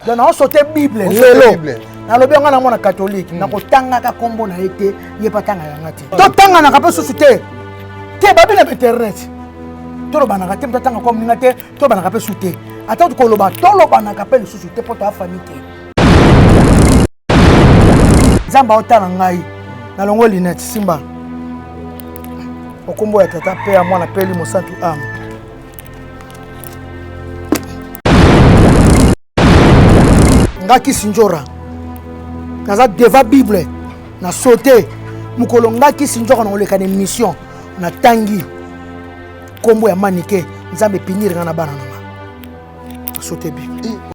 donc naoso te bible lelo nalobi yanga na mwana katolike hmm. nakotangaka nkombo na ye te ye mpe atanga yanga te totanganaka mpe susu te te babi na bainternet tolobanaka te moto atanga kwa moninga te tolobanaka mpe susu te ata koloba tolobanaka mpe lisusu te mpo toafami te nzambe aotala ngai nalongo linete simba okombo ya tata mpe ya mwana mpe elimo santu ame nga kisi njora naza deva bible na saute mokolo nga kisi njora na koleka na émission natangi nkombo ya manike nzambe epinire nga na bana na nga na saute bible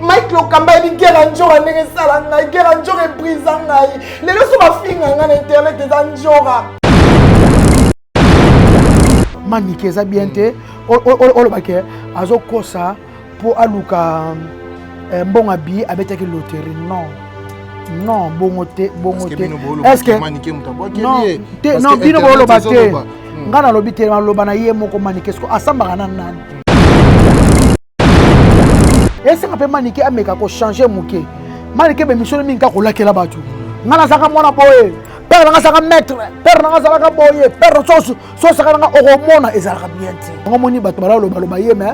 mike lokamba yebi gera njora ndenge esala ngai gera njora ebrisa ngai lelo so bafinga ngai na internet eza njora manike eza bien te olobake azokosa mpo aluka eh, mbongo abi abetaki loterie non non bongo te bongo te estce non bino boloba te ngai nalobi te naloba na ye moko manike siko asambaka na nani esika mpe manike ameka kochange moke manike bemisolo mingi kaka kolakela bato ngai nazalaka mwana boye pere nanga azalaka maître pere nanga azalaka boye pere sosu sosaka nanga okomona ezalaka bien te yango omoni bato balalobaloba ye me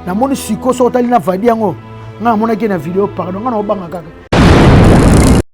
namoni siko soki otali na vadi yango ngai namonaki na video pardon ngai naobanga kaka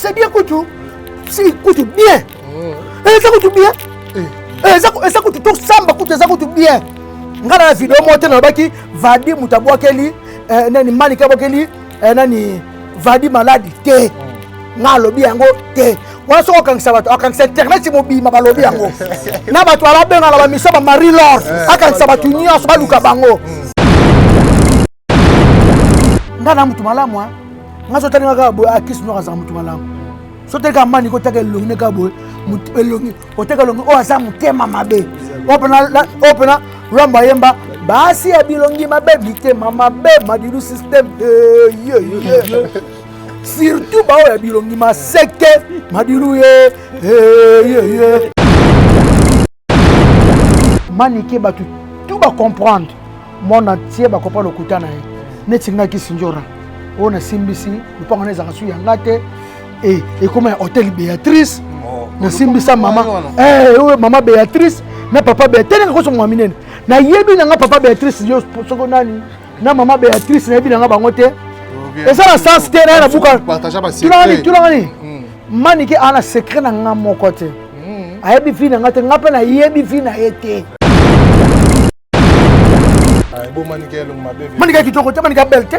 C'est bien kutu. C'est kutu bien. Oh. Eza kutu bien. Eh. Eh, eza eza kutu to samba kutu eza kutu bien. Ngana na video mo te na baki vadi mutabwakeli eh, nani mani kabwakeli eh, nani vadi maladi te. Oh. Nga lobi yango te. wana soki okangisa bato akangisa internet mobima balobi yango na bato alabenga na bamiso ba marie lor akangisa bato nyonso baluka bango nga na mutu malamu hein nga sotali nga kaka boye akisi ah, noko azala mutu malamu sotali kaka mani kotaka elongi ne kaka boye elongi oteka elongi oyo oh, aza motema mabe oyo oh, mpena oh, lwambo ayemba basi ya bilongi mabe mitema mabe madilu systeme eyeyeye surtout baoyo ya bilongi maseke madilu ye eyeye manike bato tu bacomprendre mwana tie bakopa lokuta na ye neti nga kisinjora oyo nasimbisi lopango na ezalaka su ya nga te e, ekoma ya hotel béatrice oh, nasimbisa mama eh, oyo mama béatrice na papa béatrice nakoso mwa minene nayebi na nga papa béatrice yo soko nani na mama béatrice nayebi na nga bango te eza na sens te naye na buka tulangani tulangani manike aa na secret na nga moko te hmm. ayebi vi na nga te nga mpe nayebi vi na ye te manika kitoko te manika belle te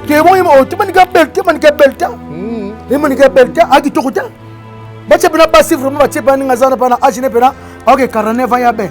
temoyi oh, te manika belle te manika belle te hmm. e manika belle te a kitoko te batie mpena basi vraiment batie mpena ndenge aza na mpena age ne mpena aoke 49 ans ya belle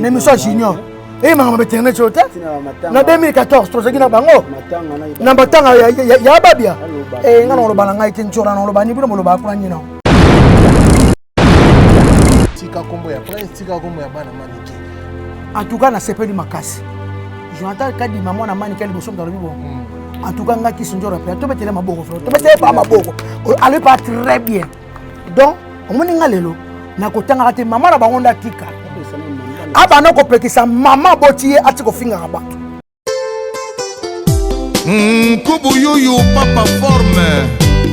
na émission ya junior eyemaka ma baternet oyo te na 2014 tozalaki na bango na matanga ya babia eh, nga nakoloba na ngai te ncora nakoloba ni bino bolobaka kuna nyina tika kombo ya prince tika kombo ya bana manike en tout cas nasepeli makasi jonathan kadima mwana manike liboso moto alobi bongo hmm. en tout cas nga kisi njora mpe tobetele maboko flo tobetele pa maboko alobi pa très bien donc omoni nga lelo nakotangaka te mama na bango ndatika abanda kopekisa mama boti ye ati kofingaka bato nkubu yuyu papa forme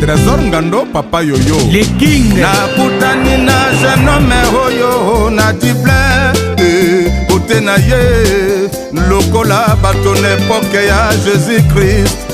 trésor ngando papa yoyo le king nakutani na genome oyo na dible kote eh, na ye lokola bato na epoke ya jésus-christ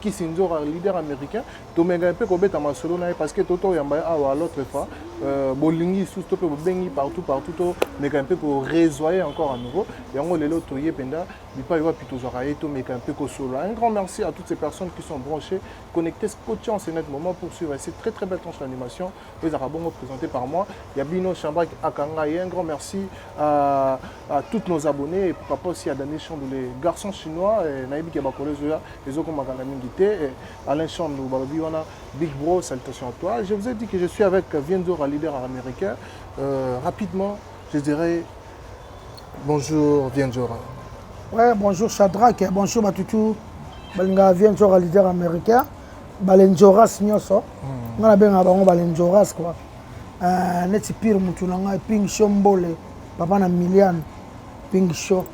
Kissinjora, leader américain, tomeka mpe kobeta masolo na ye parce que toto oyamba ye awa l'autre fois euh, bolingi lisusu to mpe bobengi partout partout tomeka mpe koresoye encore à nouveau yango lelo toye mpenza bipai wapi tozwaka ye tomeka mpe kosolo un grand merci à toutes ces personnes qui sont branchées connectées scotchant ce net moment pour suivre cette très très belle tranche d'animation ezalaka bongo présenté par moi ya bino Shabrak Akanga et un grand merci à, à tous nos abonnés et pourquoi pas aussi à Daniel Chandou les garçons chinois eh, nayebi ke bakolo ezoya ezokomaka na mingi te eh, Alain Chandou balobi wana Big Bro salutations à toi je vous ai dit que je suis avec Vienzora leader américain euh, rapidement je dirais bonjour Vienzora ouais bonjour Shadrach bonjour Matutu balinga Vienzora leader américain balenjoras nyonso hmm. nga nabengaka bango balenjoras kua euh, neti pire motu na ngai ping show mbole papa na miliane ping show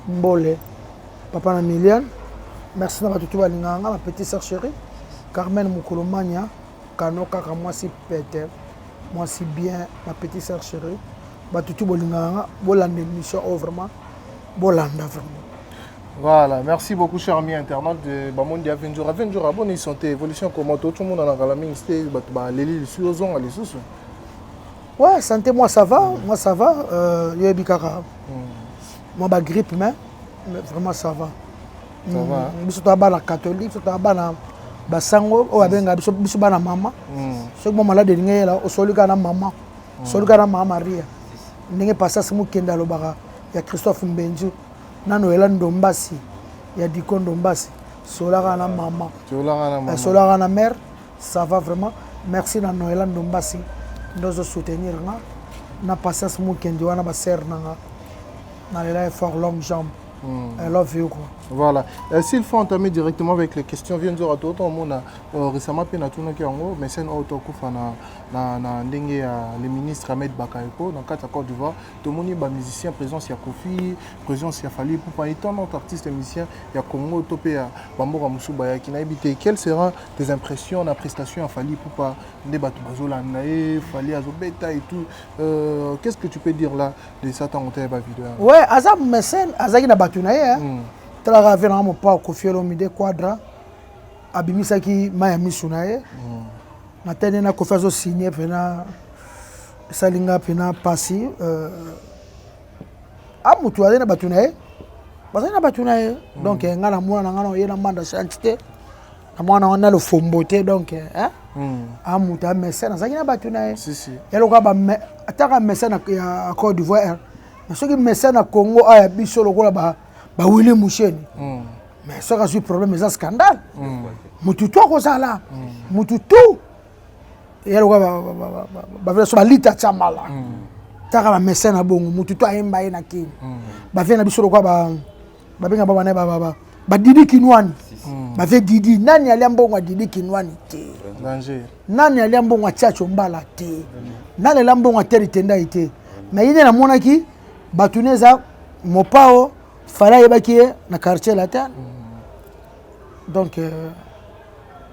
mbole papa na miliane merci na bato tu balingaka nga bapetit sœur chéri carmen mokolo mania kano kaka mwasi pete mwasi bien bapetit sœur chéri bato tu bolingaka nga bolanda émission oyo oh, vraiment bolanda vraiment Voilà, merci beaucoup cher ami internaute de Bamondi ya Venjora. Venjora, bonne santé, évolution comment tout le monde en a kala mingi c'était bato ba leli lisu ozonga lisusu. Ouais, santé moi ça va, mm. moi ça va, euh yebi kaka. Mm. Moi ba grippe mais, mais vraiment ça va. Ça mm. va. Biso to bana catholique, biso to bana basango oyo abenga biso biso bana mama. Mm. Soki mo malade elingi yela osoli kana mama. Mm. Soli kana mama Maria. Ndenge passage mokenda lobaka ya Christophe Mbenju. Nanu oyela ndombasi ya diko ndombasi solaka na maman eh, solaka na mère ça va vraiment merci na noela ndombasi nde ozo soutenir nga na patience mukendi wana basere na nga nalela ye fort long jambe Mm. I love you quoi. Voilà. Euh, S'il faut entamer directement avec les questions, viens nous tout autant on a euh, récemment peine à tout notre yango, mais c'est un autre coup na na ndenge ya le ministre Ahmed Bakayoko dans quatre accords du voir tomoni ba musiciens présence ya Kofi présence ya Fally Ipupa et tant d'autres artistes musiciens ya Congo to pe ya bamboka mosusu bayaki nayebi te quelles seront tes impressions na prestation ya Fally Ipupa nde bato bazolanda ye Fally azobeta et tout euh, qu'est-ce que tu peux dire là de ça ntango te ya ba video yango ouais aza mécène azalaki na bato na ye hein? mm. talaka ave nanga mopao Kofi Olomide Quadra abimisaki mai ya miso na ye mm. na tene na Kofi azosigne mpena esali nga mpena mpasi euh, a motu azali na bato na ye bazali na bato na ye hmm. donc eh, ngai na mwana na ngai na oye na manda chanti te na mwana wana na lofombo te donc eh, eh. Hmm. a motu ya mesene azalaki na bato na ye yaloka ataka mesene ya cote d'ivoire mais soki mesene ya congo aya biso lokola bawili musheni hmm. mais soki azwi problème eza scandale motu tu akozala motu tu ya lokola bavela so balita tiamala taka ba message na bongo mutu to ayemba ye na kini bavela na biso lokola babenga ba bana ba ba didi kinwani bave didi nani alia mbongo ya didi kinwani te nani alia mbongo ya tiacho mbala te nani alia mbongo ya teri tendai te mais ye nde namonaki bato ne eza mopao fala ayebaki ye na quartier latin donc euh,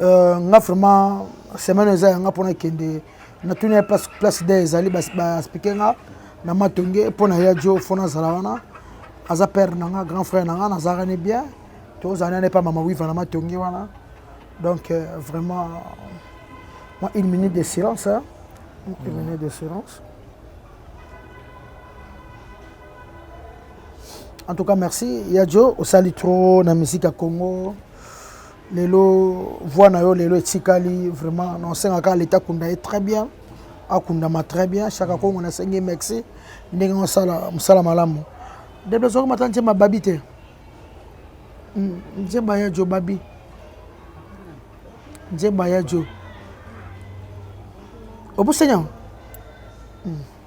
Euh, nga vraiment semaine eza yanga mpona kende natuni ya place, place de ezali baexplike nga na matonge mpo na ya jo fo nazala wana aza père na nga grand frère na nga nazalaka ne bien tozala nane mpa mama wiva na matonge wana donc euh, vraiment moi une minute de silence hein? une mm. minute de silence en tout cas merci ya jo osali trop na musique ya congo lelo voix na yo lelo etikali vraiment na osenga kaka leta akunda ye très bien akundama très bien chaka kongo nasengi ye merci ndenge osala mosala malamu ndebe ezwaki mata nzemba babi te hmm, nzemba ya jo babi nzemba ya jo obusenya hmm.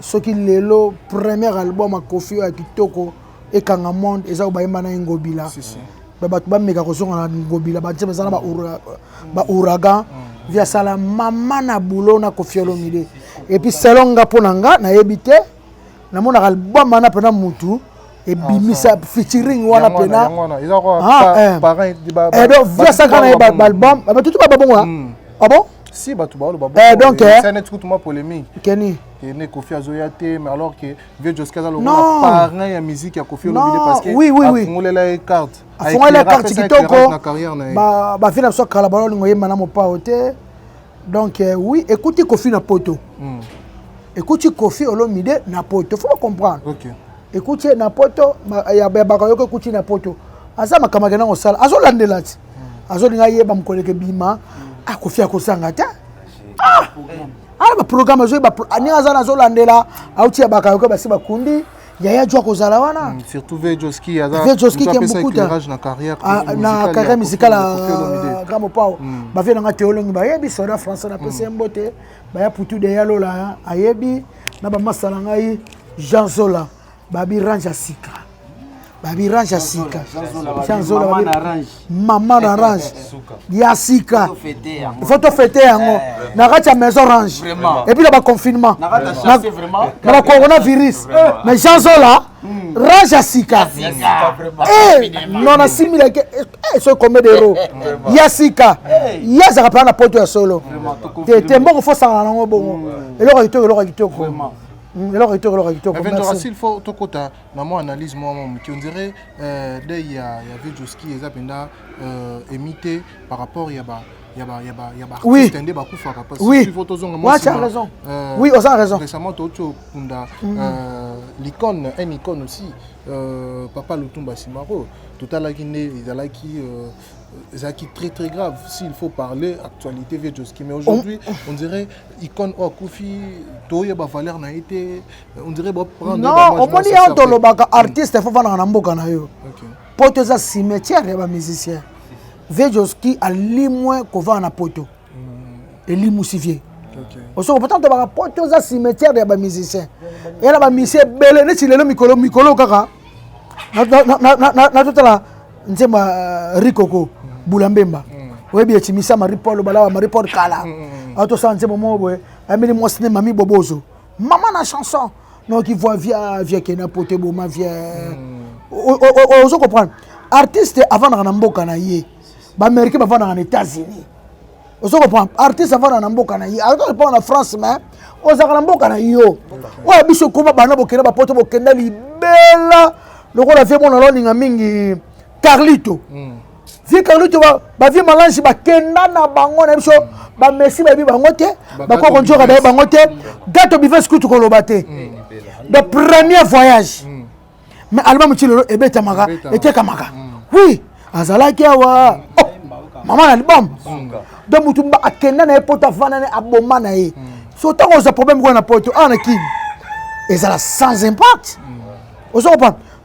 soki lelo première album ya kofi oyo ya kitoko ekanga monde eza oyo bayemba na ye ngobila si, si. bato bameka kozonga na ngobila batie baza na baouragan mm. vi asala mama na boulot na kofi olomide epuis selon nga mpo na nga nayebi te namonaka album wana mpena mutu ebimisa featuring wana pena edo viasaka na ye baalbum batutu bababongo ah bon si bato baoyo babosana ti kutu mwa polémique keni ene kofi azoya te mais alors que vieux joski aza lokola parrain ya musique ya kofi olobide parce que oui, oui, oui. afungolela ye carte afungolela carte kitoko bavi na biso kala balolingo yemba na mopao te donc euh, oui ekuti kofi na poto mm. ekuti kofi olomide na poto faut comprendre okay. ekuti ye na poto ya bakayoko ekuti na poto aza makambo akenda kosala azolandela ti mm. azolinga yeba mokolo ekebima mm. akofi akosanga te ah! ala baprogramme azoyeba ndenge aza na azolandela auti ya bakayoko basi bakundi yaya jo akozala wana hmm, surtout vejoski aza vejoski ke mbukuta na carrière ah, na carrière musicale ya grand mopao hmm. ba vie nanga théologie ba yebi soda français na pese hmm. mbote ba ya putu de ya lola ayebi na ba masala ngai Jean Zola ba bi range sika ba bi range sika Jean Zola ba range mama na range ya sika faut tofete yango eh. na kati ya maison range epuis na baconfinement na bacoronavirus eh. mais jean zola hmm. range ya sika eh, non nasimilaki soki combien d'euro ya sika ye azalaka mpena na poto ya solo te te mbongo fo sangana nango bongo hmm. eloko ya kitoko eloko ya kitoko hmm, eloko ya kitoko eloko ya kitoko na mwa analyse mwa mwa moke on dirait euh, dei ya, ya vieux joski eza mpenza euh, emi te par rapport ya ba ya ba ya ba ya ba Oui. artiste nde bakufaka parce Oui. que faut tozonga mwa Ouais, tu as nsima. raison. Euh, Oui, oza raison. récemment touti okunda euh, l'icône un icône aussi euh, papa lutumba simaro totalaki nde ezalaki euh, ezalaki très très grave s'il faut parler actualité vieux joski mais aujourd'hui on dirait icône oyo akufi toyeba valeur na ye te non omoni yango tolobaka hmm. artiste fo vandaka na mboka na yo poto eza cimetière ya bamusicien vejoski alimwe kovanda na poto hmm. elimusi vie osoko pourtant tobaka poto eza cimetière ya bamusicien eya na bamusicien ebele neti lelo mikolo mikolo kaka natotala nzembo ya euh, rikoko hmm. bula mbemba oyebi ecimisa marie paul balawa marie paul kala atosala nzembo moko boye ayembeli mwasi ne mami bobozo Maman na chanson. Non, qui voit via via kena pote boma via. Hmm. Ozo comprendre. Artiste avant na mboka na ye. Ba américain avant na États-Unis. Ozo comprendre. Artiste avant na mboka na ye. Alors pas na France mais ozaka na mboka na yo. Oya biso koma bana bokenda ba pote bokenda libela. Lokola vie mona loninga mingi Carlito. Hmm. vie carlito bavie malange bakenda na bango na biso bamesi bayebi bango te bakoki konjoka bayebi bango te gato bives kutu koloba te mm. le premier voyage mm. mais album ti lelo ebetamaka etekamaka mm. oui azalaki awa oh, mama na album donc motu akenda na ye poto avanda na ye aboma na ye so ntango oza problème kuna na poto awa na kini ezala sans impact ozo comprendre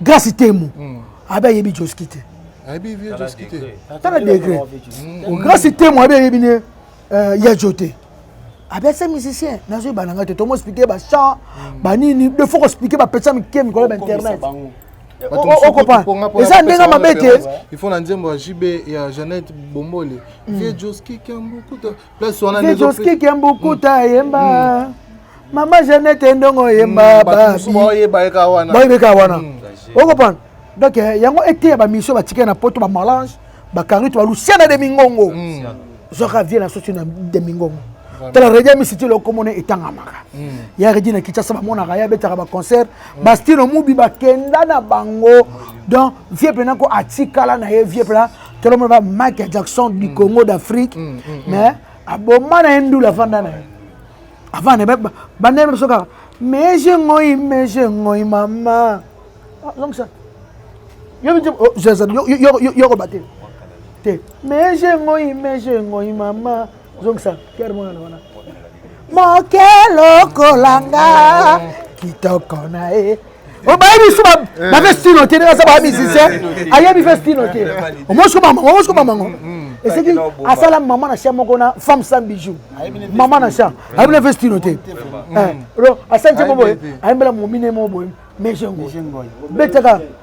Grace Temo. Mm. Abe ayebi Joski te. Ayebi vieux Joski te. Tala degré. Hmm. Grace Temo abe ayebi ne euh, ya jote. Abe se musicien. Nazo yeba nanga te. Tomo expliquer ba chant, hmm. ba nini, de faut expliquer ba pesa mikie mikolo ba internet. okopa eza ndenge mabe te il faut na nzembo ya jb ya jeannette bombole hmm. vie joski kambukuta place wana nde ezo ski kembu kuta mm. yemba mm. mama Jeannette ndongo yemba mm, babi boyeba eka wana boyeba eka wana okopana donc eh, yango eteya ba mission ba tikela na poto ba malange ba carito ba luciana de mingongo zoka vie na socio na de mingongo tala redi misiti lokomona etangamaka ya redi na kinshasa bamonaka ye abetaka baconcert bastino mubi bakenda na bango donc vie mpena ko atikala na ye vie mpena tolomona ba michael jackson du mm. congo d'afrique mm, mm, mais aboma na ye ndula afanda na ye afanda banda na biso kaka meje ngoi meje ngoi mama azongisa yoko bate te meje ngoi meje ngoi mama zongisa pierre mwana wana moke lokolanga kitoko na ye obayebi biso bafe stino te ndenge aza baya musicien ayebi fe stino te omosi koma mango eseki asala mama na cha moko na femme sans bijou mama na cha ayebi na fe stino te asali te boboye ayembela momine moko boye mejengo betaka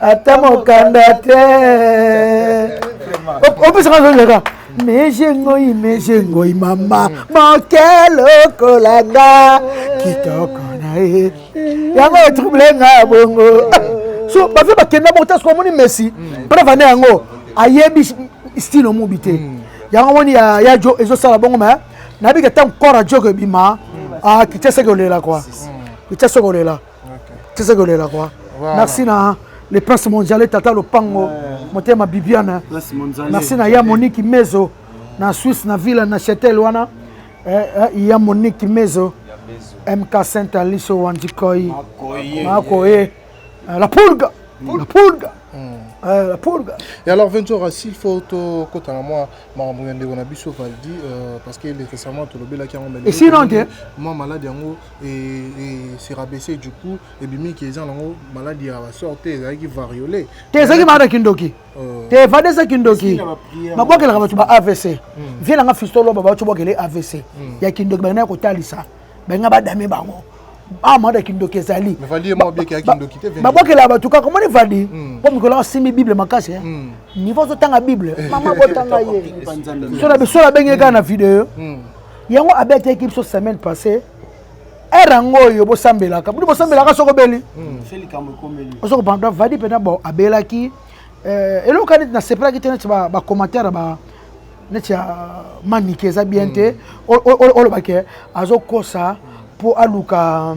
ata mokanda te opesaka azozaka meje ngoi meje ngoi mama moke lokola nga kitoko na ye yango etrouble nga bongo so bafe bakenda bongo tasiko omoni messi mpona vanda yango ayebi style omubi te hmm. yango omoni ya jo ezosala bongo me nayebika ntango corps ya joko ebima akitya seke olela kua kitya seke olela c'est ce que le quoi merci na le prince mondiale tata lopango motema bibiana merci na ya moniki mezo na suisse na villa na chetel wana eh, eh, ya moniki mezo mk saint aliso wandikoi makoye eh, la pulga la pulga Euh, la pulga et alors ventura s'il faut tokota na mwa makambo ya ndeko na biso valdi euh, parce que récemment tolobelaki yango mais sinon te mwa malade yango se rabaisser du coup ebimi ke eza nango maladi ya basor te ezalaki variole te ezalaki maladi ya kindoki euh. te evade eza kindoki babwakelaka bato ba avc hmm. vie nanga fistoloba bato bwakele avc hmm. ya kindoki balinaki kotalisa balinga badame bango ah mada kindoki ezali babwakelaka bato kaka omoni vadi hmm. mpo mikolo asimbi bible makasi eh? niveau ozotanga bible mama botanga ye so na biso nabengeki kaka na video yango abetaki biso semaine passée ere yango oyo bosambelaka bino bosambelaka soko obeli osoko panda vadi mpena bo abelaki eh, eloko kani neti nasepelaki te neti bacommentaire ba neti ya manike eza bien te hmm. olobake azokosa mpo aluka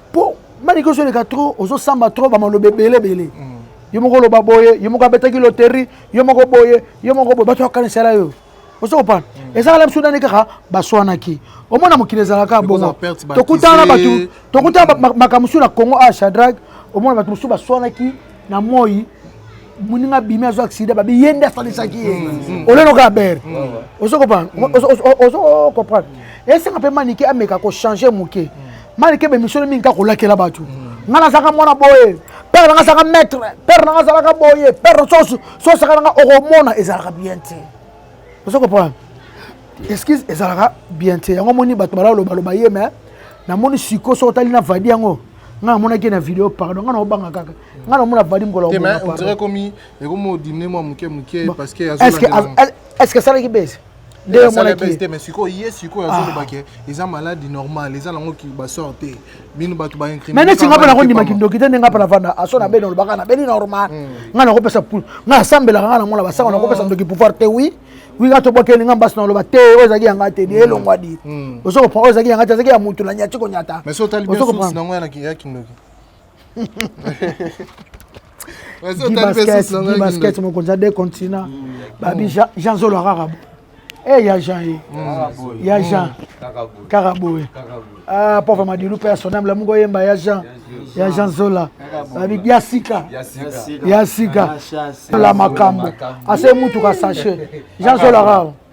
po manike ozoleka trop ozosamba trop bamaloba ebele ebele mm. yo moko oloba boye yo moko abetaki loterie yo moko boye yo moko boye bato bakanisela yo ozo kopana mm. ezalaka na biso nani kaka baswanaki omona mokili ezalaka bongo tokutana na bato tokutana makambo mosusu na congo a ah, shadrag omona bato mosusu baswanaki na moi moninga abimi azwa aksida babi ye nde asalisaki ye mm. olenoka abere ozo comprendre esenga mpe manike ameka kochange moke mm. manike bemisolo mingi ka kolakela bato mm. ngai nazalaka mwana boye père nanga azalaka maître père nanga azalaka boye père sosaka nanga okomona ezalaka bien te ozo comprendre excuse ezalaka bien te yango omoni bato balalobaloba ye me namoni siko soki otali na vadi yango ngai namonaki na video pardon ngai naobanga kaka nga namona vadi ngola est ce que asalaki bese nde omonaki te mais sikoyo ye sikoyo azoloba ke eza maladi normal eza nango basor te bino bato baincrime neti nga mpe nakondima kindoki te nde nga mpe navanda aso na beni olobaka na beni normal nga nakopesa pul nga nasambelaka nga namona basanga nakopesa ndoki pouvoir te wi wi nga tobwakeli nga mbasi naloba te oyo ezalaki yanga te ni elongwa di ozo kopran oyo ezalaki yanga te ezalaki ya motu na nyati konyata mais so otali bien source nango ya kindoki basket mokonzi ya de continent babi jean zolo akaka e ya jean ye ya jean kaka boye ah, pauvre madilu mpe ya soname lamuki oyemba ya jean ya jean zola babi ya sika ya sika la makambo ase mutuka sache jean zola kaka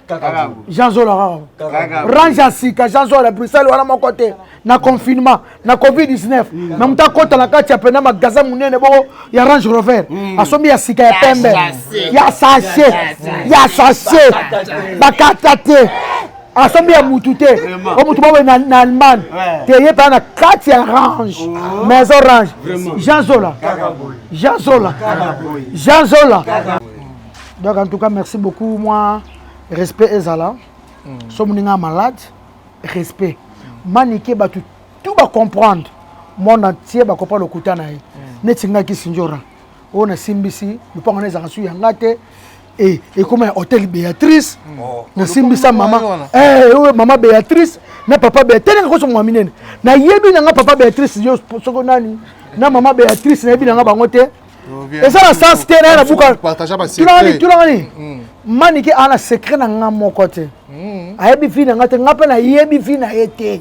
jean zola kaka range ya sika jean zola bruxelles wana moko te na confinement na covid 19 mm. na moto akota na kati ya pena magasin monene boko ya range rover mm. asombi ya sika ya pembe ya sache ya sache bakata te asombi ya mutu te o mutu bawe na, na allemagne te ye mpena na kati ya range oh. maison range jean zola jean zola jean zola donc en tout cas merci beaucoup moi respect ezala mm. so moninga malade respect mm. manike bato tout bacomprendre monde entier bakopa lokuta na ye mm. neti ngai kisinjora oyo nasimbisi lopango na ezalaka su ya ngai te e, ekoma ya hôtel béatrice mm. oh. nasimbisa mama eh, oyo mama béatrice na papa béatrice nanga koso mwa minene nayebi nanga papa béatrice yo soko nani na mama béatrice nayebi nanga bango te eza na sens te naye nabukatulangani tulangani hmm. manike ana secret na nga moko te hmm. ayebi vi na nga te nga mpe nayebi vi na ye te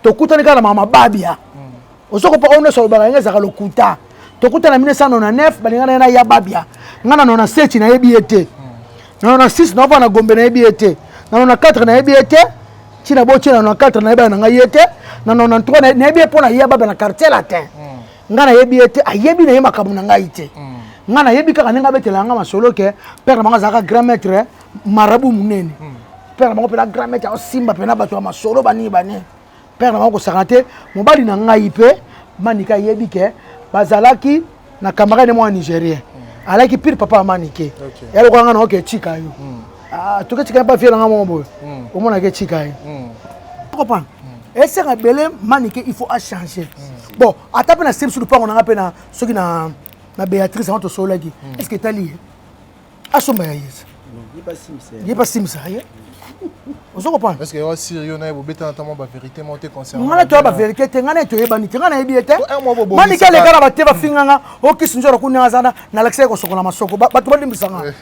tokutani kaka na mama babia hmm. ozokopa oyo nyonso alobaka yango ezalaka lokuta tokutana na 1999 balinga na ye na ya babia nga na 97 nayebi ye te na 96 naovaa na gombe nayebi ye te na 94 nayebi ye te ntina botie na 94 nayebi na ngai ye te na 93 nayebi ye mpo na ya babia na quartier latin nga nayebi ye te ayebi na ye makambo na ngai te mm. nga nayebi kaka ndenge abetela nga masolo ke père na bango azalaka grand maître marabu monene mm. père na bango mpena grand maître aosimba mpena bato ya masolo banini banini père na bango kosaka te mobali na ngai mpe manika ayebi ke bazalaki na camarade mwa nigérien mm. alaki pire papa ya manike ya lokola nga na oke etika yo Ah, toke tika pa viela nga mo boye. Hmm. Omona ke tika ye. Hmm. Comprendre? Hmm. Esaka bele manike il faut a changer. Bon, ata pe na sebe sur pango nanga pe na soki na na Beatrice anto solaki. Est-ce que tali ye? Asomba ya yesa. Ye pa simisa. Ye pa simisa ye. ozo comprendre parce que yo sir yo naye bobeta na tamo ba vérité mo te concernant ngana to ba vérité te ngana to yebani te ngana yebi te mani kale kana ba te ba finganga o kisinjora kunya azana na lakisa ko sokola masoko ba to balimbisa nga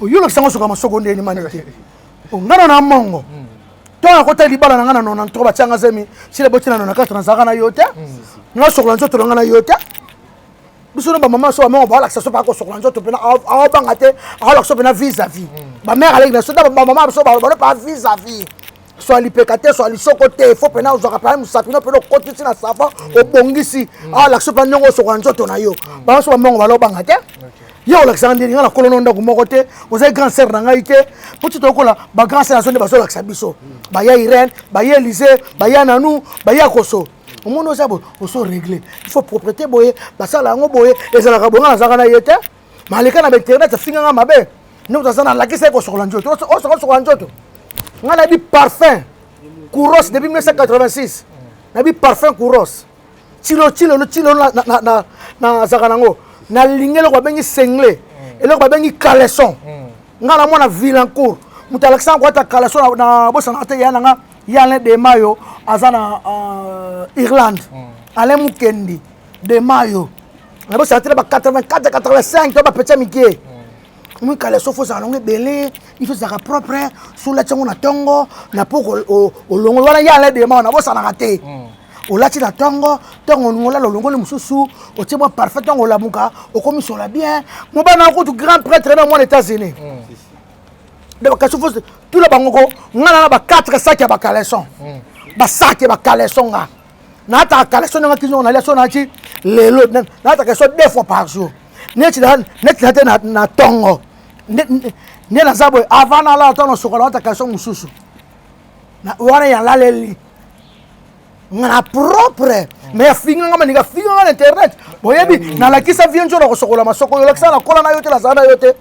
oyolokisa ngo soka masoko ndeni mani te ongana na mongo ntango nakotali libala na ngai na nona ntoko batyanga zemi sila boti na nona kati nazalaka na yo te nga sokola nzoto na ngai na yo te biso no bamama so bamama baolakisa so baa kosokola nzoto mpena aobanga te aolakisa mpena vis a vis bamare aleki na so bamama biso baloba no pa vis a vis swa lipeka te swa lisoko te fo mpena ozwaka mpena mosapi no mpena okotisi na savon obongisi alakisa mpe ndenge osokola nzoto na yo bango so bamongo balobanga te ye olakisaka ndenge ngai nakolo no ndako moko te ozali grand sere na ngai te mpo ti tokola bagrand sere azo nde bazolakisa biso baya irene baya elise baya nanu baya koso omoni oza boye oso regle il faut propreté boye basala yango boye ezalaka boye ngai nazalaka na ye te Mais aleka na internet afinga nga mabe. Ndoto aza na lakisa ko sokola njoto. O sokola sokola njoto. Nga na bi parfum. Kuros depuis 1986. Na bi parfum Kuros. Chilo chilo lo chilo na na na na zaka nango. Na lingelo ko bengi sengle. Eloko ba bengi caleçon. Nga na mwana Vilancourt. Mutu alakisa ko ata caleçon na bosa na te yana nga. Yale de mayo aza na euh, Irlande. Alain Mukendi. dema yo na bosala te na ba 84 85 to bapeti ya mike mwikala sofi ozala nango ebele iso ezalaka propre solati yango na ntongo na po olongo wana ye ala dema wana bosanaka te mm. olati na ntongo ntongo olingi olala olongoli mosusu otie mwa parfum ntongo olamuka okomisola bien mobana kutu grand prêtre na mwana états-unis kasi fo tula bango ko ngai nana ba 4 saki ya bacaleson basaki ya bacaleson nga nataka kaleso nanga kizongo nalia so nati lelo nataka kaleso deux fois par jour neti na te na tongo nde naza boye avant nalala to nasokola nataka kaleso mosusu wana yalaleli nga na propre mais afinga nga maninga afinga nga na internet boyebi nalakisa vie nzono kosokola masoko yo lakisa na kola na yo te nazala na yo te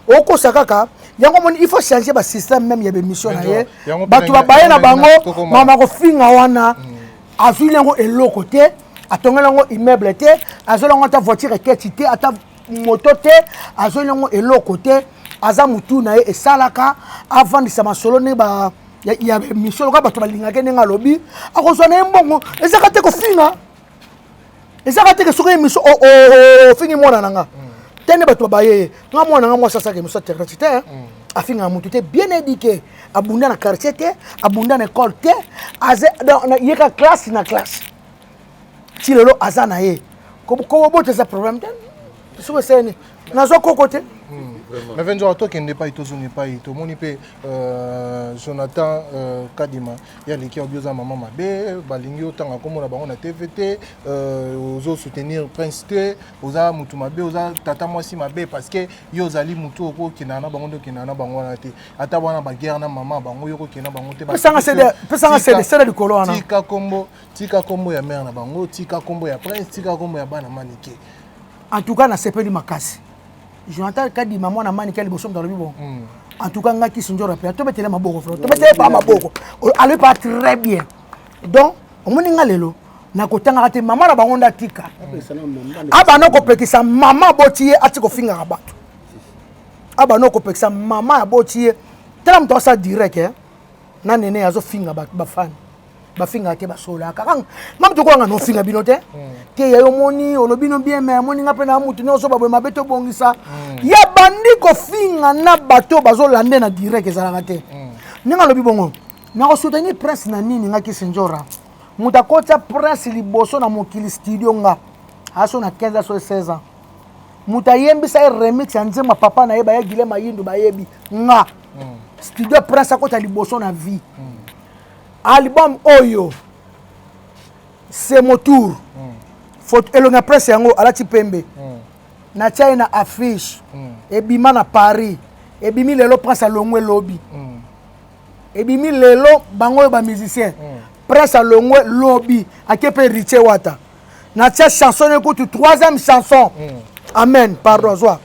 okosa kaka yango omoni il faut changer ba système même ya bemission na ye bato babaye na bango mama kofinga wana mm. azwili yango eloko te atongeli yango immeuble te azweli yango ata voiture eketi te ata moto te azweli yango eloko te aza motu na ye esalaka avandisa masolo nde ba ya misolo kaka bato balingaki ndenge alobi akozwa na ye mbongo ezaka te kofinga ezaka teke soki emiso oh, oh, oh, ofingi mwana na nga te nde bato babaye ye nga mwana nga mwasi asaka emiso aterati te afingaka motu te bien éduqué abunda na quartier te abunda na école te yeka classe na classe ti lelo aza na ye kobobota eza problème te soki eseni nazwa koko te hmm, mais venzo tokende epai tozonga epai tomoni mpe euh, jonathan euh, kadima ya leki obi oza mama mabe balingi otanga komona bango na tv te euh, ozo soutenir prince te oza motu mabe oza tata mwasi mabe parce que yo ozali motu okokendana na bango nde okendana na bango wana te ata wana baguerre na mama bango yo okokenda bango te pesanga sede sede likolo wana tika kombo tika kombo ya mare na bango tika kombo ya prince tika kombo ya bana manike en tout cas nasepeli makasi jonathan kadima mwana mani kia liboso moto alobi bongo hmm. en tout cas ngai kisi njora mpe tobetele maboko fr tobetele pa maboko alobi pa très bien donc omoni nga lelo nakotangaka te mama na bango nde atika abanda kopekisa mama aboti ye ati kofingaka bato abanda kopekisa mama aboti ye tala moto asala direct eh? na nene azofinga bafani bafingaka te basololaka kaka nga moto okolanga nofinga bino te hmm. te ya yo omoni olobi no bien mai omoni nga mpe na motu nyonso baboye mabe tobongisa hmm. ya bandi kofinga na bato bazolande na direct ezalaka te hmm. ndenge alobi bongo nakosoutenir prince na nini nga kisinjora moto akotya prince liboso na mokili studio nga aso na 15 aso 16 ans moto ayembisa ye remix ya nzemba papa na ye baye gile mayindu bayebi nga studio prince akotya liboso na vie album oyo c'est mon tour mm. foto elongi ya presse yango alati pembe mm. natia ye na affiche mm. ebima na paris ebimi lelo prince alongwe lobi mm. ebimi lelo bango oyo bamusicien mm. prince alongwe lobi ake mpe ritie wata natia chanson ekutu troisième chanson mm. amen pardon zwa mm.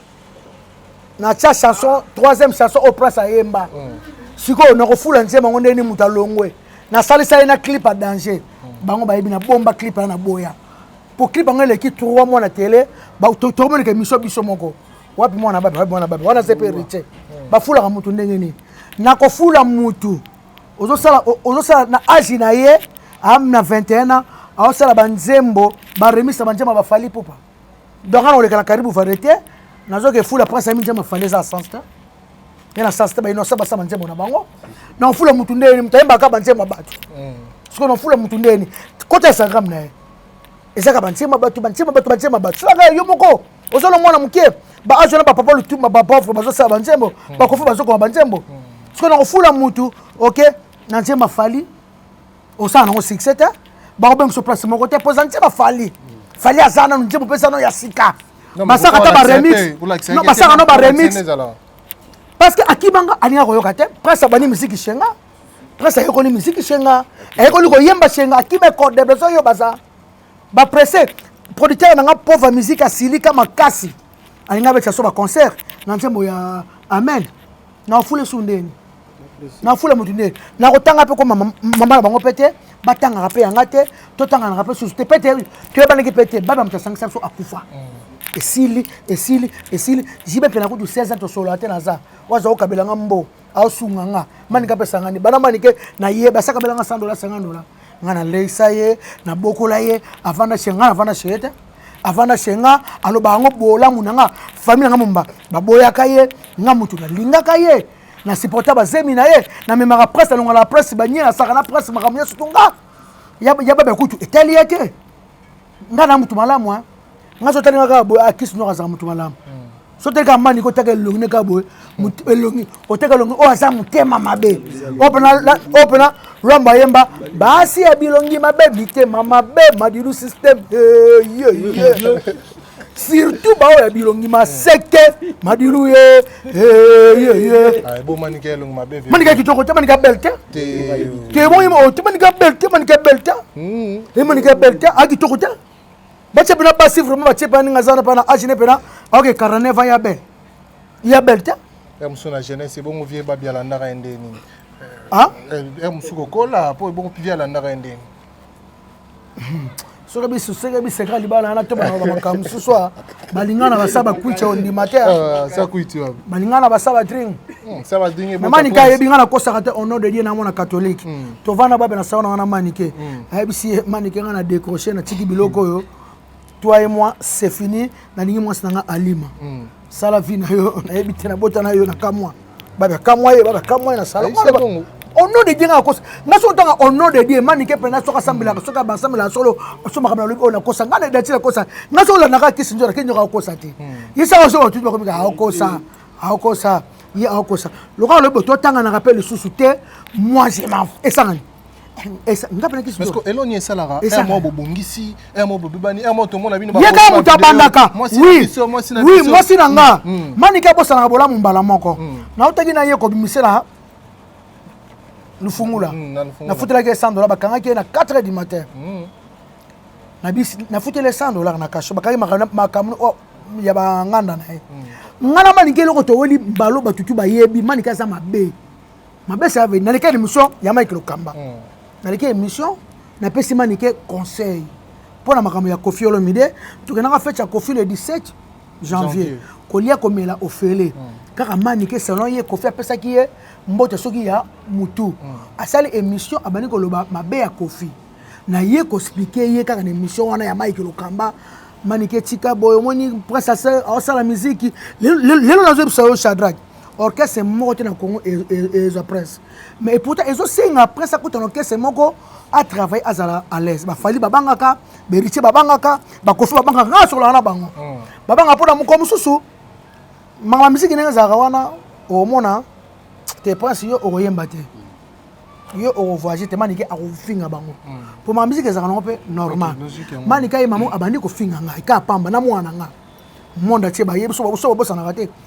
na tia chanson troisième chanson oyo prince ayemba mm. sikoyo nakofula nzemba yango ndenge nini moto alongwe nasalisa ye na clip ya danger mm. bango bayebi na bomba clip ya na boya mpo clip yango eleki trois mois na tele tokomoneka emission biso moko wapi mwana babe wapi mwana babe wana se mpe riche mm. bafulaka motu ndenge nini nakofula motu ozosala ozosala na age na ye am na 21 ans aosala banzembo baremisa banzembo bafali pupa donc ana koleka na karibu variété nazoka efula prince ami nzembo efanda eza sens te ye na sens te bainosa basala nzembo na bango na ofula motu ndeni moto ayembaka banzembo ya bato mm. sikoyo na ofula motu ndeni kota instagram na ye ezaka banzembo ya bato banzembo ya bato banzembo ya bato soka yo moko ozala mwana moke baazwa na bapapa lutuma bapauvre bazosala banzembo mm. bakofi bazokoma banzembo mm. sikoyo na kofula motu oke na nzembo afali osala nango succès te bakobengiso place moko te mpo eza ntie bafali fali aza nanu ntie mopesa no ya sika basaka ata baremix basaka no baremix parce que akibanga alinga koyoka te prince abandi miziki shenga prince ayekoli miziki shenga ayekoli koyemba shenga akima ekode besoin yo baza bapresse producteur na nga pauvre miziki asilika makasi alinga abetisa so baconcert na nzembo ya amen nafula esu ndeni nafula motu ndeni nakotanga mpe ko mama na bango mpe te batangaka mpe yanga te totanganaka mpe susu te mpe te toyebanaki mpe te baba moto asangisa biso akufa mm. esili esili esili jibe mpe nakutu 16 ans tosolola te naza waza okabela nga mbo aosunga nga manika mpe esangani bana manike naye basakabela nga 100 dola 50 dola nga naleisa ye nabokola ye avanda chez nga navanda chez ye te avanda chez nga aloba yango bolamu na nga famille na nga momba baboyaka ye nga motu nalingaka ye na supporta bazemi na ye namemaka presse alongala na presse banie asaka na presse makambo nyonso to nga ya babe kutu etali ye te nga na motu malamu nga so otali nga kaka boye akisi ah, noko azala motu malamu hmm. soki otali kaka mani kotaka elongi ne kaka boye elongi oteka elongi oyo aza motema mabe oyo mpena lwambo ayemba basi ya bilongi mabe mitema mabe madilu systeme surtout baoyo ya bilongi maseke madilu ye manika kitoko te manika bel te te manika bel te manika bel te manika bel te akitoko te batie pena basi vraiment batie pena ninga zana pana age ne pena ok 49 ans ya belle ya belle te ya mosu na jeunesse ebongo vie babi alandaka ye ndeni ah eh, ya mosu kokola po ebongo vie alandaka ye ndeni soki bisu soki biseka libala wana to bana makambo mosusu a balingana basaba kuicha ondima te ah, balingana basaba dring hmm, mamanike ayebi nga nakosaka te ono de die na mwana katholike hmm. tovanda babe na sawana wana manike hmm. ayebisi ye manike nga na décroche natiki biloko oyo toi et moi c'est fini nalingi mwasi na nga alima sala vie na yo nayebi te nabota na yo na kamwa babe akamwa ye babe akamwa ye na sala ono de die nga nakosa nga soki otanga ono de die manike mpena soki asambelaka soki basambelaka solo so makambo nalobi oyo nakosa nga na dati nakosa nga soki olandaka kisi nzoto ake nyoka akokosa te hmm. ye saka soki batuti bakomika akokosa hmm. akokosa ye akokosa lokola lobi bototanganaka mpe lisusu te moi je m'en esangani eloni esalaka mwa bobongisi mwa bobibani mwa tomona bino ye kaka moto abandaka wi mwasi na nga mm, mm. manike abosanaka bolamu mbala moko mm. nautaki na ye kobimisela lufungula nafutelaki ye 100 dola bakangaki ye na 4 heures du matin nafuteli ye 100 dolar na kasho bakangi makambo oh, ya banganda na ye nga na manike eloko toweli mbalo batutu bayebi manike aza mabe mabesa ave naleki émission ya mike lokamba mm. naleki émission napesi manike conseil mpo na makambo ya kofi olomide tokendaka fete ya kofi le 17 janvier kolia komela ofele mm. kaka manike selon ye kofi apesaki ye mbote soki ya mutu mm. asali émission abandi koloba mabe ya kofi na ye koexplike ye kaka na émission wana ya mike lokamba manike tika boye omoni prince asala miziki lelo nazoyebisa yo shadrake orchestre moko te na congo ezwa prince mais epouta ezosenga prince akuta na orchestre moko atravaille azala à l'aise bafali babangaka beritier babangaka bakofi babangaka ngai asololaka na bango hmm. babanga mpo na mokolo mosusu mama miziki ndenge ezalaka wana omona te prince yo okoyemba te yo okovoyage te manike akofinga bango hmm. mpo mama miziki ezalaka nango mpe normal manike ye mama abandi kofinga ngai ka pamba na mwana ngai monde atie bayebi so babosanaka te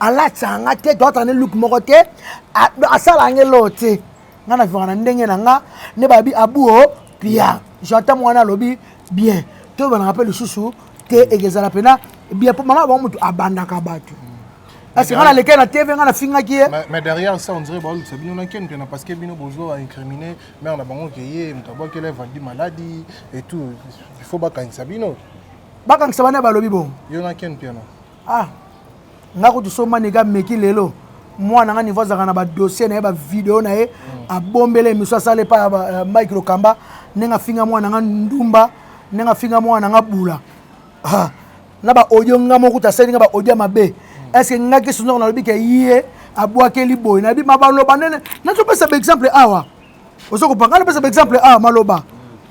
alatisa nga te toatala ne luke moko te asala nga eloo te nga na vivaka na ndenge na nga nde babi abuo pia jata mwana alobi bien toyebana mpe lisusu te ekezala mpena bien mpo mama bango motu abandaka bato parce nga nalekei na tv nga nafingaki ye mais derrière ça on dirait baolukisa bino na ken mpena parce que bino bozo incrimine mare na bango ke ye moto abwakela evandi maladi et tout il faut bakangisa bino bakangisa bana balobi bongo yo na ken mpena ah nga kutu so manike ameki lelo mwana nga niveau azalaka na badossier na ye bavideo na ye mm. abombela emission asala epai ya euh, mike lokamba ndenge afinga mwana nga ndumba ndenge afinga mwana nga bula ah, na baaudio nga moko kutu asali nga baaudio ya mabe mm. estce nga kisundoko nalobi ke ye abwakeli boye nayebi ma baloba nene nazopesa baexemple awa ozo kopanga napesa baexemple awa maloba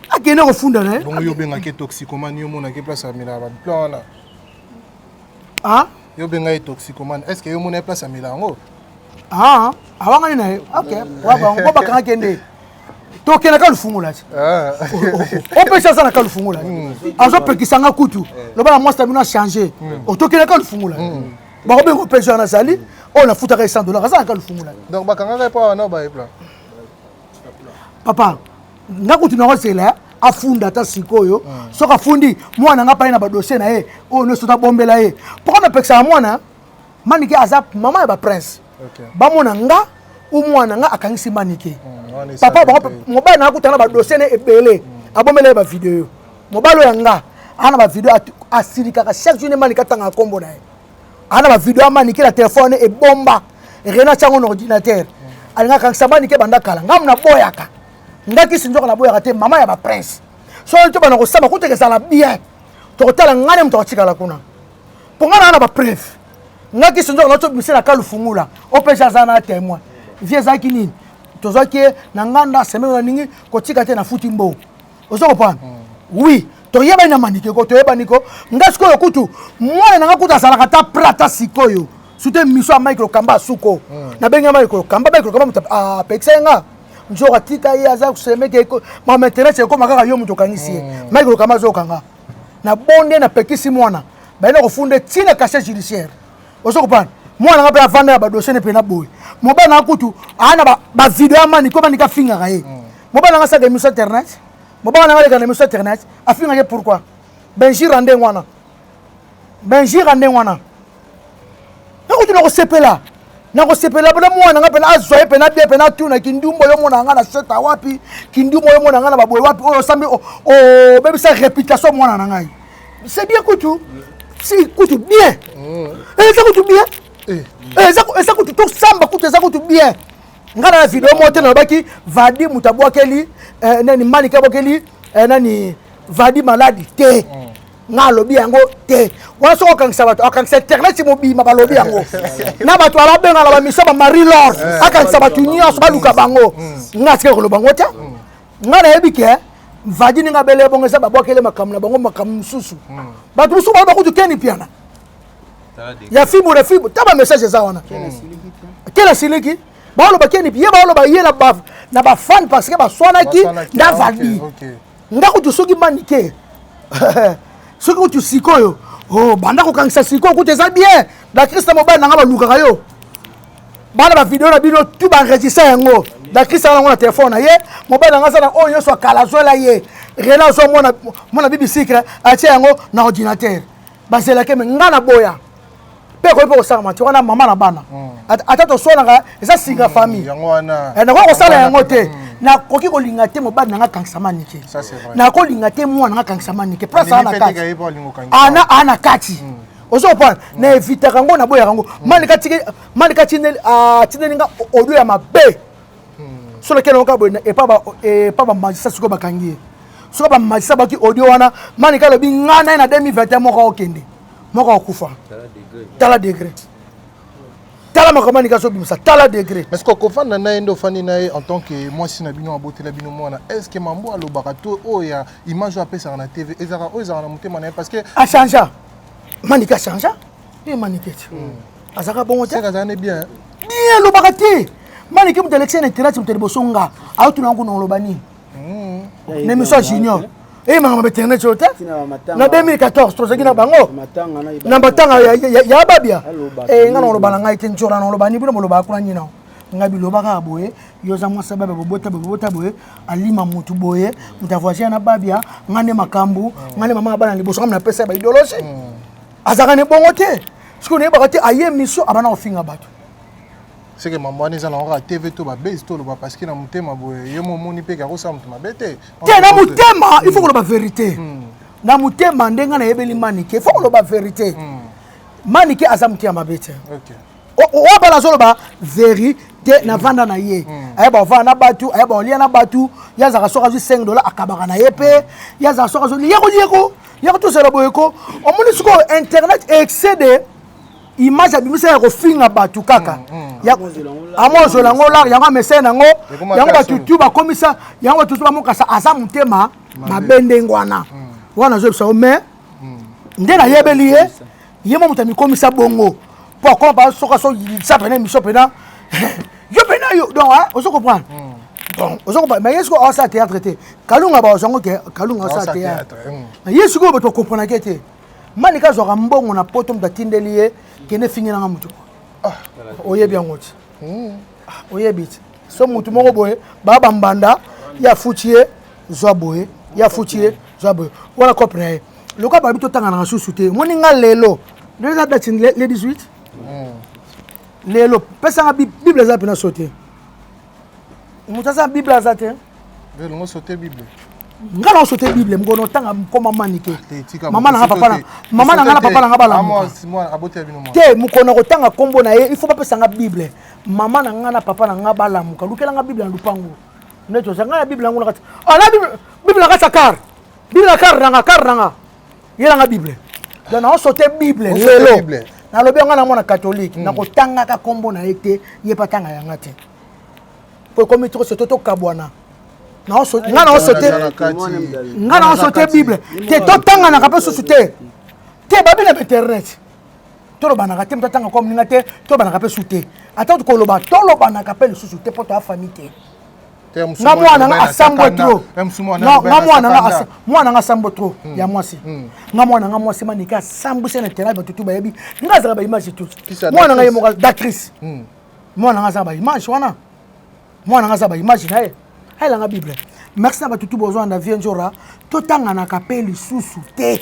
akende kofunda na ye bongo yo obengaki toxicomani omonaki place amela baplan wana ah yo benga ye toxicomane est ce que yo mona ye place ya mela yango ah awangani na ye ok wa bango bo bakanga kende tokenda ka lufungola ti ah. opesi aza na ka lufungola hmm. azopekisa nga kutu eh. loba na mwasi na bino achange hmm. otokenda ka lufungola hmm. bakobenga opesi wana azali oyo nafutaka ye 100 dollar aza na ka lufungola donc bakangaka ye mpo wana obaye plan papa nga kutu na kozela afunda ata sikoyo hmm. soki afundi mwana nga pai na badossier na ye oyo nyonso nabombela ye mpoka napekisaka mwana manike aza mama ya baprince bamona nga o mwana nga akangisi manike hmm, papa bango mobali na akutana badossier na ebele hmm. abombela ye bavideo mobali oyo ya nga ana bavideo asilikaka chaque jour ne manike atangaka nkombo na ye ana bavideo ya manike na telefone ebomba rena tyango na ordinatere alingaka kangisa manike banda kala ngamu naboyaka nga kisi nzoka naboyaka te mama ya baprince soki tobana kosamba kuteke ezala bien tokotala ngai ne moto akotikala kuna mpo ngai naa na bapreve ngai kisi nzoka nao tobimisa na kalu fungula opeja aza na témoin vie ezalaki nini tozwaki ye na nganda semene na ningi kotika te nafuti mbongo ozo comprendre oui toyebani na manike ko toyebani ko nga sikoyo kutu mwana na nga kutu azalaka ata prata sikoyo sute miso ya mike lokamba asuko hmm. nabengi ya mike lokamba mike lokamba moto apekisa ah, ye nga nzoko atika ye aza kosemeke ma maintenance ekoma kaka yo moto okangisi ye hmm. mike lokamba azokanga na bonde napekisi mwana bayina kofunda ntina cachet judiciaire ozo kopana mwana nga mpe avanda ya badoshe ne mpena boye mobali nanga kutu aa na bavideo ya mani ko mani kafingaka ye mm. mobali nanga asaka emission internet mobali nanga aleka na emission internet afingaka ye pourquoi benjira ndenge wana benjira ndenge wana nakuti nakosepela nakosepela mpena mwana nga mpena azwa ye mpena bie mpena atuna kindumbu oyo mona nga na seta wapi kindumbu oyo mona nga na baboye wapi oyo osambi obebisa reputation mwana na ngai c'est bien kutu si kutu bien eh, eza kutu bien eh. Eh, eza kutu tosamba kutu eza kutu bien ngai na video moko te nalobaki vadi moto abwakeli nani manike abwakeli nani vadi maladi te mm. nga alobi yango te wana soki okangisa bato akangisa internet mobima balobi yango na bato alabenga na bamiso ba marie lor akangisa bato nyonso baluka bango mm. nga atikaki koloba yango te mm. nga nayebi ke vadi ndenge abele ebongo eza babwakele makambo na bango makambo mosusu hmm. bato mosusu baa bakutu keni mpiana ya fibo na fibo ta bamessage eza wana kela siliki baoloba keni ye baoloba ye na bafane parce que baswanaki na vadi nga kutu soki manike soki kutu sikoyo oh, banda kokangisa sikoyo kutu eza bien bakrista mobali na nga balukaka yo bana bavideo na bino tu baenregistre yango dakisa yango na telefone na ye mobali yango aza na oyo nyonso akala azwela ye rena azwa mwana mwana bibi sikre atie yango na ordinateur bazelake me ngai na boya mpe ekoki mpe kosangama te wana mama na bana hmm. ata toswanaka eza singa hmm, famille eh, nakoki kosala yango te hmm. nakoki kolinga te mobali na ngai akanisama nike nakolinga te mwana na ngai akanisama nike mpo asala na kati ana ana kati ozo comprendre na evitaka yango naboyaka yango malika atindeli ah, nga audio ya mabe hmm. soki nakenda yoka boye epa bamagisa sikoyo bakangi ye soki bamagisa baki audio wana malika alobi ngai naye na 2021 moko akokende moko akokufa tala degre tala makambo anika azobimisa tala degre est ce que okofanda na ye nde ofandi na ye en tant que mwasi na bino abotela bino mwana est ce que mambo alobaka to oyo ya image oyo apesaka na tv ezalaka oyo ezalaka na motema na ye parce que achangea manike achangea ye manike ti hmm. azalaka bongo te bien elobaka te manike moto alekisa na etelati moto liboso nga aotuna yango na oloba nini hmm. na émission ya junior eyemaka ma internet oyo te na 2014 tozalaki na bango na matanga ya babia eh, nga na oloba na ngai te nzora na oloba ni bino bolobaka kuna nini nao nga biloba kaka boye yo oza mwasi ababia bobota boye bobota boye alima mutu boye mutu avoisine na babia nga nde makambo nga nde mama ya bana liboso kama napesa ya baidologe hmm. azalaka ne bongo te soki oyebaka te aye émission abana kofinga bato seke mambo wana eza na kaka tv to babase toloba parceke na motema boye ye momoni mpe kakosala moto mabe te te na motema il faut koloba verité hmm. na motema ndenge nayebeli manike il faut koloba verité hmm. manike aza moto ya mabe te oyo bana azoloba verite na vanda na ye hmm. ayeba ovanda na batu ayeba olia na batu ye azalaka soki azwi 5 dola akabaka na ye mpe ye azalaka soki azwi yeko yeko yeko tozala boye ko omoni sikoyo internet excede image abimisa ya kofinga bato kaka hmm, hmm. amozwela yango lar yango amesene yango yango bato tu bakomisa yango bato tu bamokasa aza motema mabe ndenge wana wana azoyebisa yo mais nde nayebeli ye ye mwa moto amikomisa bongo mpo akoma mpa soki asoyilisa mpena emission mpena yo mpena yo donc ozo comprendre hmm. donc ozo comprendre mais ye sikoyo aosala théâtre te kalunga baozwa yango ke kalunga aosala théâtre hmm. mais ye sikoyo bato bakomprenake te mani ka azwaka mbongo na poto moto atindeli ye kende efingelanga moto ah. oyebi yango ti hmm. ah, oyebi ti so motu moko boye baa bambanda ye afuti ye zwa boye ye afuti ye zwa boye wana cope na ye lokola babi totanganaka susu te omoni nga lelo lelo eza date le 18 hmm. lelo pesanga bible eza mpena so te moto aza bible aza te nga sote bible nga na sote bible mkono otanga mkoma mani te ah, mama nanga papa na mama nanga na papa nanga balamuka te mokona kotanga nkombo na ye il faut bapesa nga bible mama na nga na papa na nga balamuka lukela nga bible na lupango nde toza nga na bible yango na kati ala ah, bible na kati ya kare bina kar nanga kar nanga yelanga bible donc naosote bible lelo nalobi yango na mwana katolike hmm. nakotangaka nkombo na ye te ye mpe atanga yanga te mpo ekomi toko soto tokabwana nga naosote nga naosote bible te totanganaka mpe susu te te babi na internet tolobanaka te moto atanga kwa moninga te tolobanaka mpe su te ata koloba tolobanaka mpe lisusu te mpo toya famille te nga mwana nga asambwe trop nga mwana nga mwana nga asambwe trop hmm. ya mwasi hmm. nga mwana nga mwasi manike asambwisi na terrain bato tu bayebi nga azala baimage tout mwana nga ye moko d'actrice hmm. mwana nga aza baimage wana mwana nga aza baimage na ye ayelanga bible merci na bato tu bozwana na vie njora totanganaka mpe lisusu te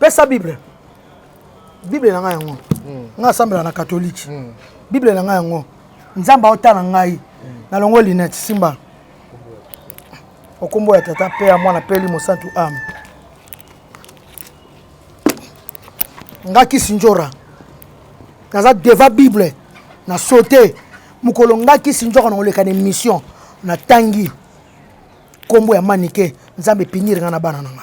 pesa bible bible na ngai yango hmm. ngai asambela na katolike hmm. bible na ngai yango nzambe aotala ngai hmm. nalongo linete simba okombo ya tata mpe ya mwana mpe elimo santu ame nga kisi njora naza deva bible na saute mokolo nga kisi njora nakoleka na émission natangi nkombo ya manike nzambe epiniri nga na bana na nga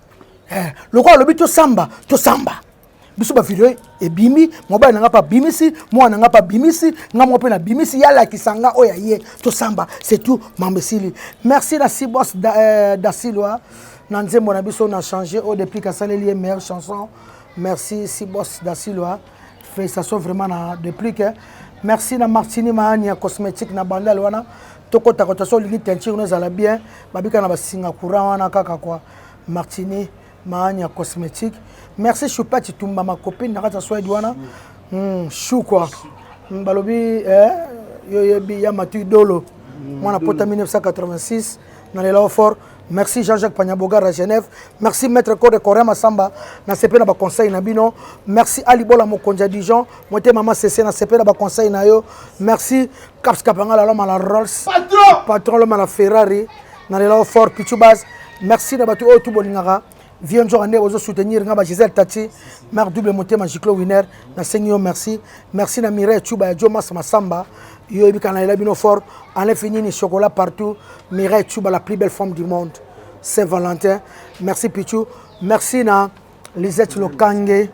eh, lokola alobi tosamba tosamba biso bavideo ebimi mobali na ngai mpe abimisi mwana na ngai mpe abimisi ngai moko mpe nabimisi ye alakisa ngai oyo aye tosamba setout mambo esili merci na sibos da, eh, dasilwa na nzembo na biso na change oyo deplique asaleli ye meilleure chanson merci sibos dasilwa Félicitations vraiment na déplic. Hein. Merci na Martini Maani ya cosmétique na bandal wana. Tokota kota so lingi teinture no ezala bien. Babika na basinga courant wana kaka quoi. Martini Maani ya cosmétique. Merci Choupa Chitumba ma copine na kata Swede wana. Hmm, chou quoi. Hmm, balobi eh yo yebi ya matu dolo. Mwana pota 1986 na lela fort. Merci Jean-Jacques Panyabogar à Genève. Merci Maître Code Corin Massamba. Na sepe na ba conseil na bino. Merci Ali Bola Mokonja Dijon. Moite maman Cessé na sepe na ba conseil na yo. Merci Caps Kapanga la loma la Rolls. Patron. Patron loma la Ferrari. Na lela fort Pichubas. Merci na batu oyo tout bolingaka. vieux nzoka nde bozo soutenir nga ba gisele tati mare double motema giclo winner nasengi yo merci merci na mireille cuba ya jomas masamba yo oyebi kana lela bino fort enlefi nini chocolat partout mireille cuba la plus belle femme du monde saint valentin merci pichu merci na lisette lokange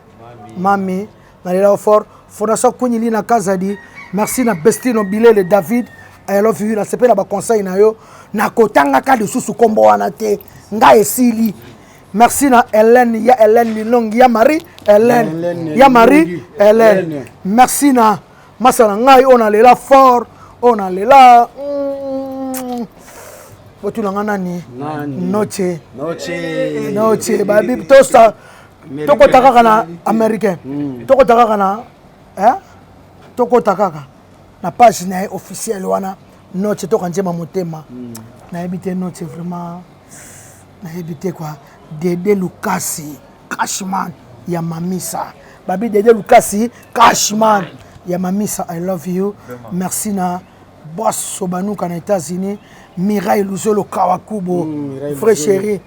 mami nalela yo fort fondation queen lina kazadi merci na bestino bilele david i love you nasepela baconseil na yo nakotangaka lisusu nkombo wana te ngai esili merci na helene ya helene linongi ya marie helene ya marie helene merci na masa na ngai oyo nalela fort oyo nalela mm, botuna ngai nani noche noche babi tosa tokota kaka na américain hmm. tokota kaka na eh? tokota kaka na page na ye officiel wana noce toka njema motema hmm. nayebi te noce vraiment nayebi te kua dede lukasi cashman ya mamisa babi dede lukasi cashman ya mamisa i love you merci na boss sobanuka na états-unis mirai luzolo kawakubo mm, vrai chéri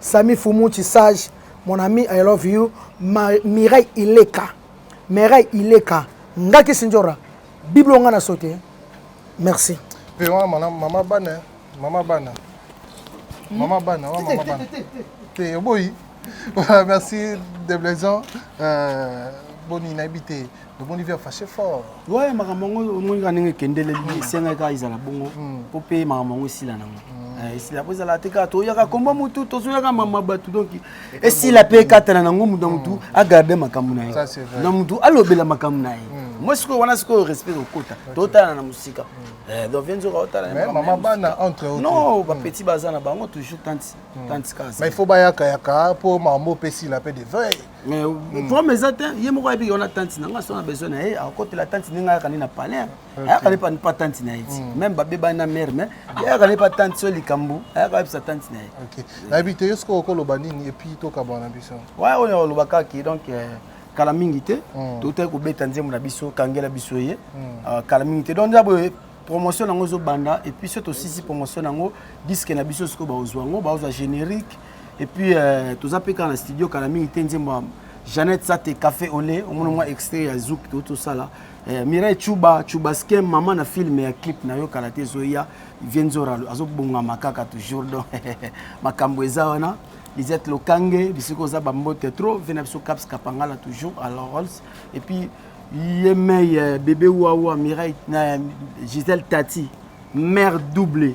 Sami Fumuchi sage mon ami I love you Ma, Mireille Ileka Mireille Ileka ngaki sinjora biblo nga na sote merci pe wana mana mama bana mama bana hmm? mama bana wa mama bana te oboyi merci de blaison euh, boni nayebi te tomoni via fache fort ouais makambo yango omoni kaka ndenge ekendeleli mm. esengaki kaka ezala bongo mm. mpo mpe makambo yango esila nango mm. eh, esila mpo ezala te kaka toyaka komba motu tozoyaka mama bato donc esila mpe ekatana nango moto na motu agarde makambo na ye na motu alobela makambo na ye moi sikoyo wana sikoyo respect okota totala na mosika eh, donc vie nzoka otalamama bana entre non bapetit baza na bango toujours tanti tanti kasa il faut bayakayaka mpo makambo opesi la mpe de veille mais mm. problème eza te ye moko ayebi yo na tante na nga so na besoin na ye akotela tante ndenge ayaka nde na palais ayaka nde pa tante na ye ti mm. même babebani na mare mais ayaka nde pa tante so likambo ayaka ayebisa tante na ye nayebi te yo soki okoloba nini epuis tokabana na biso wa oyo oloba kaki donc euh, kala mingi te mm. totaki kobeta nzembo na biso kangela biso ye euh, kala mingi te donc nzambo promotion yango ezobanda epuis so tosisi promotion yango diske na biso sikoyo baozwa yango baozwa générique et puis euh, toza mpe kaka na studio kala mingi te nzembo ya jeannette sate café ole omona mwa extrait ya zouk to tosala euh, mirai chuba chuba skem mama na filme ya clip na yo kala te ezoya vienzora azobongama kaka toujours donc makambo eza wana lisette lokange bisika oza bambote trop ve na biso caps kapangala toujours à la rolls et puis yemei euh, bebe wawa mirai na giselle tati mère double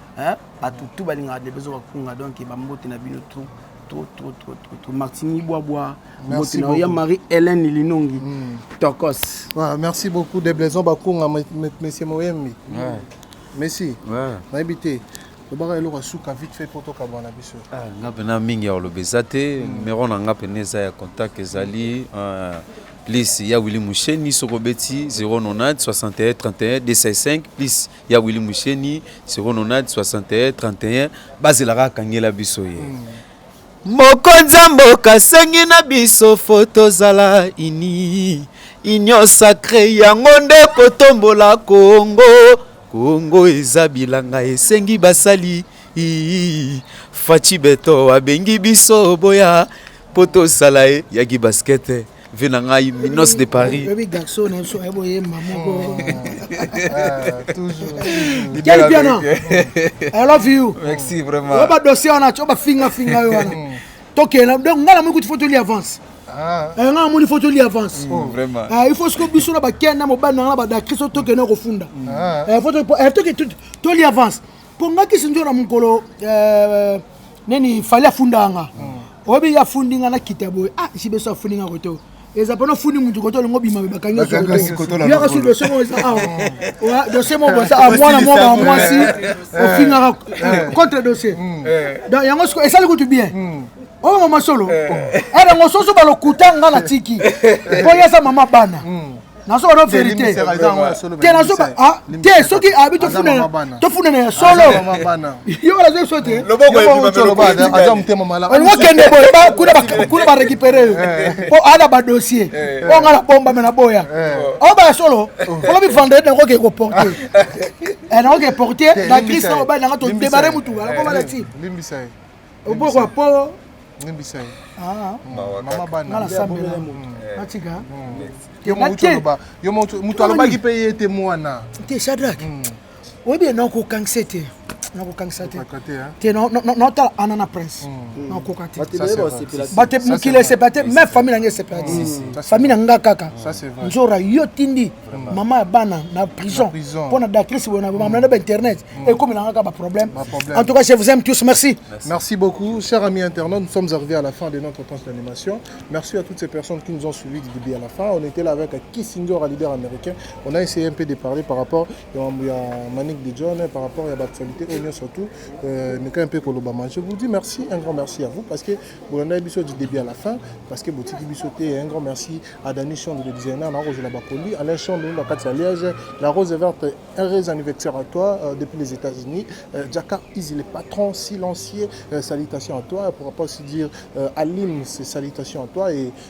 hein batu tout balingaka de bezo bakunga donc ba mbote na bino tout trop trop trop trop trop martini bwabwa mbote na ya marie hélène linongi mm. tokos voilà, merci beaucoup de blaison bakunga monsieur moyembi ouais. merci ouais. nayebi te lobaka eloko ya suka vite fait mpo tokabwana biso ah, nga mpena mingi ya koloba eza te mm. numero na nga mpena eza ya contact ezali euh, plus ya willi musheni soki obeti 090 61 31 265 plus ya Willy Musheni 090 61 31 bazelaka akangela biso ye mm. mokonzi ya mboka asengi na biso fo tozala ini union sacre yango nde kotombola kongo kongo eza bilanga esengi basali faci beto abengi biso boya Poto sala ye yaki basket vie na ngai minos de paris oyebi garçon na biso ayebo ye mamoko quel piano i love you merci vraiment oyo badossier wana tio bafingafinga yo wana hmm. tokenda donc ngai namoni kuti fo toli avance ah. eh, ngai namoni fo toli avance oh, eh, il faut siko biso na bakenda mobali na ngai na badakristo tokenda kofunda ah. eh, toli avance konga kisinjo na mokolo euh, nini fali afundaka nga hmm. oyebi ye afundi nga nakita boye ah esi beso afundi nga kote eza mpona ofundi motu kote olingo bima bakangi yaka su dosie moko eza awa ah, dosie moko boza ah, mwana moko ya mwasi eh. ofingaka eh, eh. contre dosie hmm. donc yango siko esali kutu bien hmm. oyo oh, mama solo erango soso balokuta nga na tiki mpo ye aza mama bana nazoba no verité te nazoba ah, te soki abi tofundana ya solo yo ola zoso te olokokende boye kuna barécupere yo eh. po ada badossier eh. oyo nga na bomba me na boya eh. oyo baya solo oh. olobi vendredi nakoke koporte nakoke porte na crise na mobali nanga todebare motuka nakomalati oboko ya poo limbisa ye ah. mama bana nasambela natika yo moto alobaki mpe ye te mwana te shadrack hmm. oyebi ye nakokangisa ye te nakokangisa te te naotala ana na prince hmm. nakoka te bato mokili esepela te me famille na ngai esepela te famille na nga kaka nzora yo tindi mama ya bana na prison mpo na dactrice boye na bamamna na bainternet ekomelanga kaka baproblème en tout cas je vous aime tous merci merci beaucoup cher ami internaute nous sommes arrivés à la fin de notre tranche d'animation merci à toutes ces personnes qui nous ont suivis du début à la fin on était là avec Kissinger à leader américain on a essayé un peu de parler par rapport ya Manik de John par rapport ya baactualité oyo nyonso tout meka un peu kolobama je vous dis merci un grand merci à vous parce que bolanda biso du début à la fin parce que botiki biso te un grand merci à Dani Chon le designer na kozela ba colis Alain Chon le na kati ya Liège la rose verte heureuse anniversaire à toi euh, depuis les États-Unis euh, Jaka Easy le patron silencieux euh, salutations à toi pour pas aussi dire euh, Alim c'est salutations à toi et